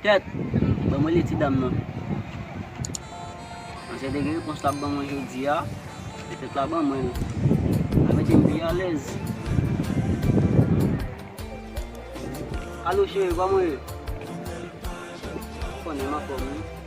Tèt! Banm rele ti dam nan. Nan se degre repons lap ban mwen jodi a, se tèt la ban mwen. Sa mete m pi alèz. Alo cheri, kòman ou ye? Ou konnen m anfòm wi.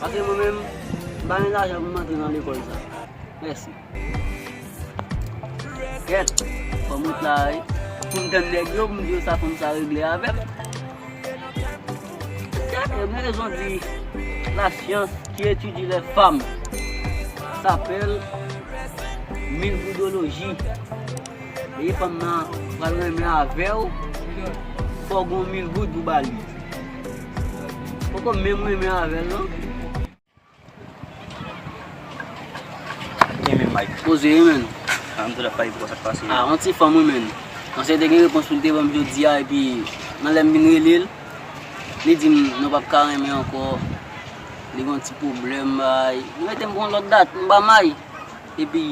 Paske mwen menm, m pa gen lajan pou m antre nan lekòl sa. Mèsi. Gèt, fò m ret la a wi. Pou m tann nèg yo pou m di yo sa fanm sa regle avè m. Gèt, yo gen rezon di, la syans ki etidye lè fanm sapèl milvoudoloji. Lè fanm nan pral renmen avè w, fò w gen yon milvoud pou w ba li. Poko menm renmen avèl non. Kenbe mic. Poze wi menn. An mte tap pale pou sak pase. Ah yon ti fanm wi menn. Ansyen te gen repons poul te banm jodia epi nan lèm vin relel li dim nou pap ka renmen ankò li gon ti pwoblèm bay li metem pou yon lòt dat mpa may epi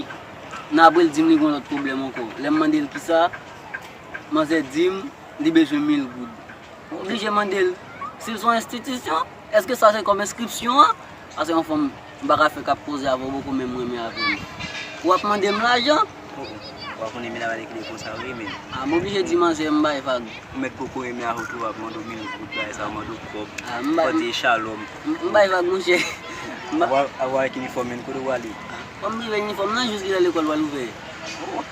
nan aprè li dim li gon lòt pwoblèm ankò lèm mandel kisa manzè dim li bezwen mil goud. Ou oblije mande l si l son enstitisyon, èske sa se kòm enskripsyon an? Sa se yon fòm m pa ka fè k ap koze avè w bokou menm renmen avè l. Ou ap mande m lajan? O o, ou pa konnen Mila va lè ki lè konsa vre men. A, m oblije di manzè m bay vag. Ou mèt poko renmen avè w tou w ap mande w mil goud bagay sa, w mande w kòb, ou pa di e shalom. M bay vag monchè. Apre w al ak inifòm men kote w ale? Fò m rive inifòm nan jis li lè lekòl pral ouvè. O o.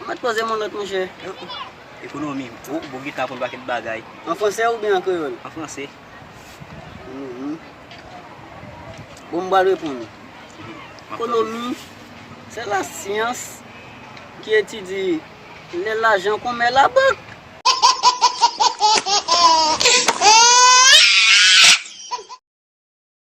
Ou met poze mon not mouche. Ekonomi. O, bon gita aprann paket bagay. An franse oubyen an kreyol? An franse. Ekonomi. Bon m pral reponn ou. Ekonomi se la syans ki etidye lè lajan konmè labank.